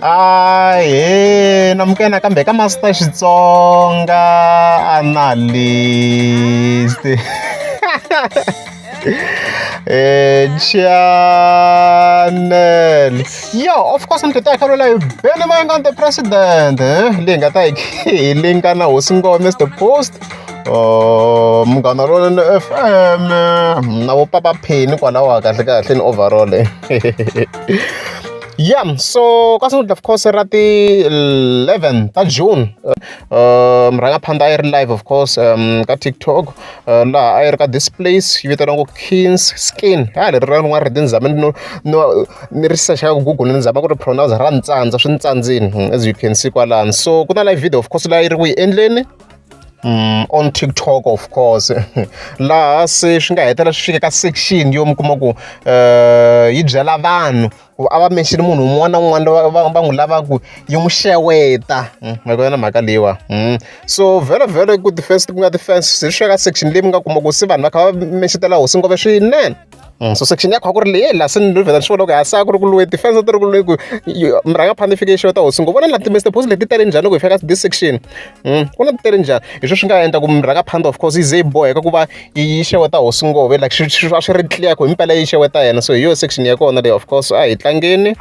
ahee namukena kambe ka masita xitsonga analyst eh channel yo of course ni tita khalula hi bene moya nga the president eh leyi nga ta hi leyi nga na hosi ngoma mr post Oh, munghana lonene fm na vo papa pheni kwalawa kahle kahle ni overall eh. yeah so ka sungula of course ra ti-11 ta june um rhangaphandha a yi ri live of course um ka tiktok uh, laha a yi ri ka this place yi vitaniwa ku kings skin ha leri ra rin'wana ri tindzama no no ni ri sexaka ku google ni zama ku ri pronounce ra ntsandza swi ntsandzini hmm, as you can see kwalani so ku na live video of course laha yi ri ku yi endleni Mm, on tiktok of course laha se swi nga hetelela swi fike ka section yo mi kuma ku um yi byela vanhu ku a va menxini munhu un'wana na un'wana va n'wi lavaku yi n'wi xeweta mm, ma ku yona mhaka leyiwa mm. so vhelo vhelo ku ti-first ku nga ti-fans se swi fika ka section leyi mi nga kuma ku se vanhu va kha va menxetela hosi ngove swinene so section ya kona a ku ri leyi laha se ni lo vheta ni swi vona ku ha se a ku ri ku luwe ti-fence ti ri ku luwe ku murhangaphandle i fike i xeweta hosi ngo vona la ti-mr post leti tele njhani loko hi fika ka this section ku na ti tele njhani hi sweswi nga endla ku murhangaphandle of course yi ze yi boheka ku va yi xeweta hosi ngove like swi swi va swi ri clear ku himpela yi xeweta yena so hi yo section ya kona leyi of course a hi tlangeni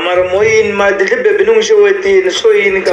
mara moyini madidli bebi ni n'wi xewetile swo yini ka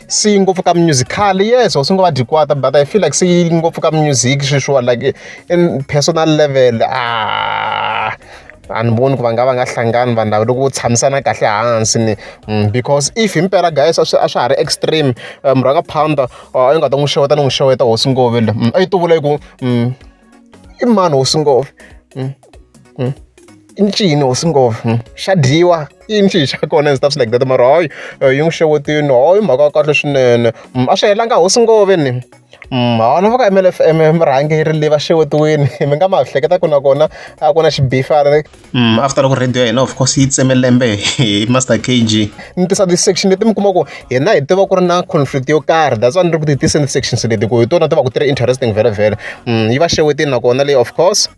se yi ngopfu ka musical yes or swi ngo va dyi kwata but i feel like se yi ngopfu ka music sweswiwa like in personal level ah a ni voni ku va nga va nga hlangani vanhu lava loko vo tshamisana kahle hansi ni mm, because if himpela guys a swi a swa ha ri extreme eh, murhaka pounder a yi nga ta n'wi xeweta ni n'wi xeweta hosi ngove le mm, a yi tuvula yi ku mm, i mani hosi ngova hmm? Hmm? i ncini hosi ngova hmm? xa dyiwa i ncini xa kona and stuff like that mara hayi eh, yi n'wi xewetini hayi mhaka ya kahle swinene a swi helanga hosi ngove ni hawona va ka mlfm murhangeri leyi va xewetiwini mi nga ma hleketa ku na kona a ku na xibifana after loko rhadiyo ya hina of course yi tseme lembe hi Master K_G. Ni tisa ti-section leti mi kuma ku hina hi tiva ku ri na conflict yo karhi that's why ni ri ku ti tiseni ti-sections leti ku hi tona ti va ku ti ri interesting vhelavhela yi va xewetini nakona leyi of course.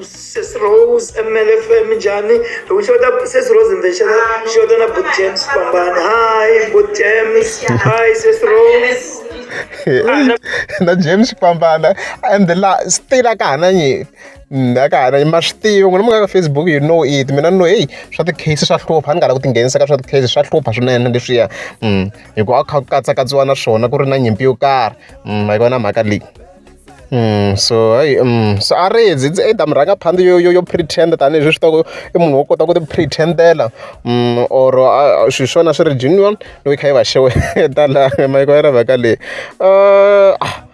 Sesi Rose M_L_F minjhani hi ku xeweta Sesi Rose ni ta xeweta ni xeweta na Buti James Kwambani hi Buti James hi Sesi Rose. na James Kwambani and la still a ka ha na nyimpi. a ka ha ri ma swi tivi n'wina mi nga ka Facebook you know it mina ni no heyi swa ti-case swa hlupha a ni nga lavi ku tinghenisa ka swa ti-case swa hlupha swinene leswiya hi ku a kha ku katsakatsiwa na swona ku ri na nyimpi yo karhi a yi vona mhaka leyi Mm, so hayi um so a ri zi ndzi either mi rhanga phanda yo yo yo pretend tanihi leswi swi i munhu wo kota ku ti pretendela um mm, or swi swona swi ri genuine loko yi kha yi va xeweta laha mayiko ya ri mhaka leyi uh ah,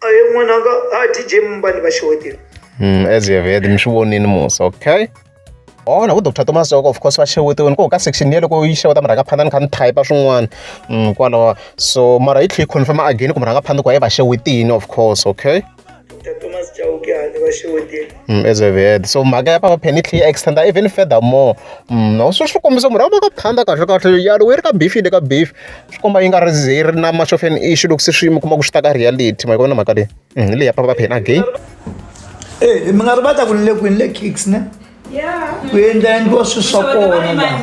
a ye n'wananga a dj mumbani va xewetile Mm, as you have heard mi swi vonini musa okay ona udr thomas soko of course va xewetiweni ko ka section yele ko yi xeweta mi rhanga phanda ni kha ni typa swin'wana mm, kwalawa so mara yi tlhe yi confirma again ku mi rhanga phanda ku hayi va xewetini of course okay dr thomas chauke a ni va xewetile as a vhele so mhaka ya papa phela yi tlhela yi extend-a even further more swi swi kombisa murhi wa vona phanda kahle kahle ya ri we ri ka beef yi le ka beef swi komba yi nga ri ze yi ri na much of an issue loko se swi mi kuma ku swi ta ka reality ma yi vona mhaka leyi hi leyi ya papa phela again e mi nga ri va ta ku ni le kwini le kicks ne ku endla endliwa swilo swa kona laha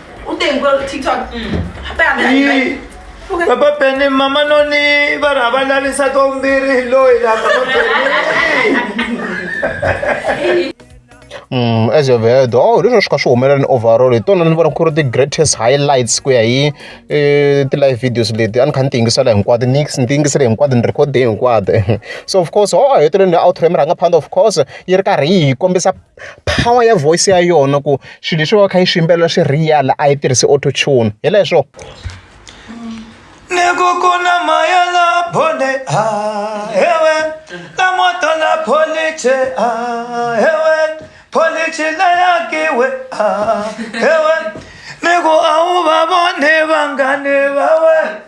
Ou te yon gol TikTok? Ape a mè yon mè. Papa pene mama no ni bara bala ni sa to mbiri lo ila papa pene. Mm, as you've heard, oh, leswi swi kha swi humelela ni overall hi tona ni vona ku ri ti-greatest highlights ku ya hi eh, ti-live videos leti a ni kha ni ti yingisela hinkwato ni ni ti yingisele hinkwato ni record hinkwato so of course ho a heteleleni outro ya mirhanga phanda of course yi ri karhi yi hi kombisa power ya voice ya yona ku swilo leswi va kha yi swi yimbelela swi real a yi tirhisi auto tune hi leswo ni ku ku na maya la bole a hewe la moto la police a hewe police la yakiwe a hewe ni ku a wu va vone vangane va wena